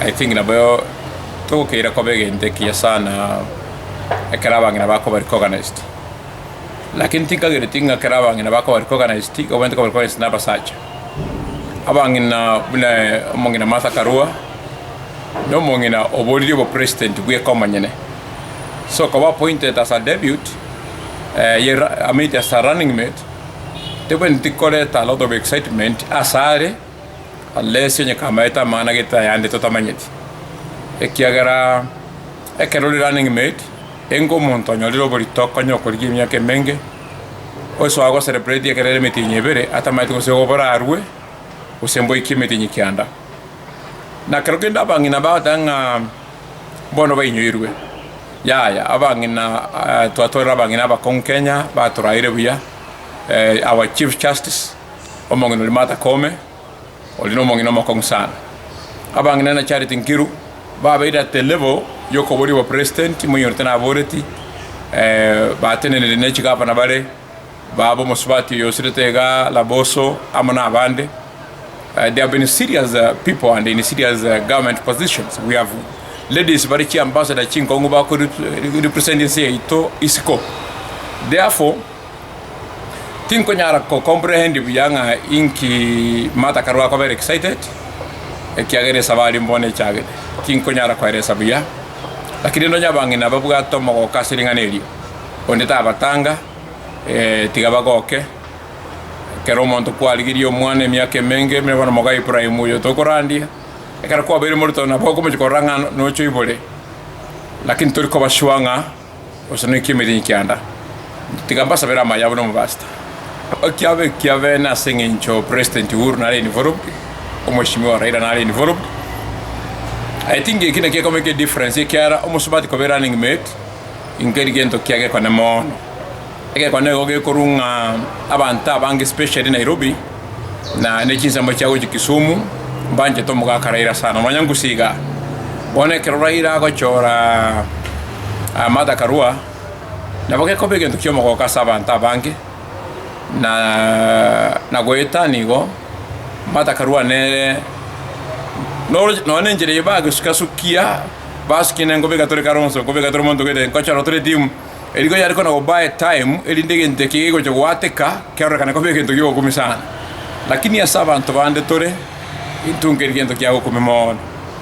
I think naboyo togokeira koba egento ekiya sana ekero abang'ina bakobua recognized, lakini tinkagereti ng'a ekero abang'ina bakobua recognized igo abwenerete kobua recognized na abasacha. Abang'ina buna omong'ina Martha Karua, na omong'ina oboririe obo president bweka omonyene, so koba appointed as a deputy ye ra- I mean as a running mate, tibwenereti koreta a lot of excitement asare. Alesio onye kamaete amang'ana agete ayande totamanyeti, ekiagera ekero ore running mate, enga omonto onyorire oborito konya okorigia emiaka emenge, osoa go celebrate ekero ere emetienyi ebere atamanyeti gose igo borarue gose mboikie emetienyi kianda. Na kero kende abang'ina bagoteba ng'a bono bainyoirwe, yaya abang'ina twatorire abang'ina abakong'u Kenya batoraeire buya, our chief justice. Omong'ina oria Martha Koome, oria nomong'ina omokong'u sana. Abang'ina na Charity Nkiru babeire at the level yokoboria obopresidenti, moinyorete naboreti, batenenire ne chigavana bare, baba omosubati oyo osirete iga Laboso amo nabande. They have been serious people and in serious government positions. We have ladies bare chiambassador chinkong'u bakore represent ense yaito isiko. Therefore. Tinkonyara ko comprehend buya ng'a inki Martha kare gwakobera excited, ekiagera esabari mbono echagete. Tinkonyara koelesa buya, lakini nonya abang'ina babwate omogoka ase ring'ana erio, onde tabatanga, eh, tiga bagoke, ekero omonto kwarigirie omwana emiaka emenge, buna bono moka Ibrahim oyo tokorandia, ekero kwabeire morito nabo okomochia korora ng'a nocha oibore, lakini tori koba sure ng'a. gose noiki emeeri enkianda, tiga mbasabere amaye abo nomobasta okiaba ekiabene ase eng'encho President Uhuru nare involved, Omheshimiwa Raila nare involved. I think eki nakio ekomeka edifference ekiara omosubati koba erunning mate, inki keri gento kiagekwane mono. Egekone igo gekorwa ng'a abanto abange especially Nairobi na ne chinsemo chia gochia Kisumu mbanchete omogaka Raila sana nonya ngusi iga. Bono ekero Raila agochora Martha Karua nabo gekoba egento kia omogoko ase abanto abange na goetania igo Martha Karua nere nonya ne enchera eye bagesuka sukia basukia nengoba egatoreka Ronso engoba egatoreka omonto ogoeta ngochora tore team. Eri rigo yare kona goba etaimu, erinde egento eke gegocha goateka kerorekane koba egento gi'ogokumia sana. Lakini ase abanto bande tore, intwe nkeri gento ki'agokumia mono.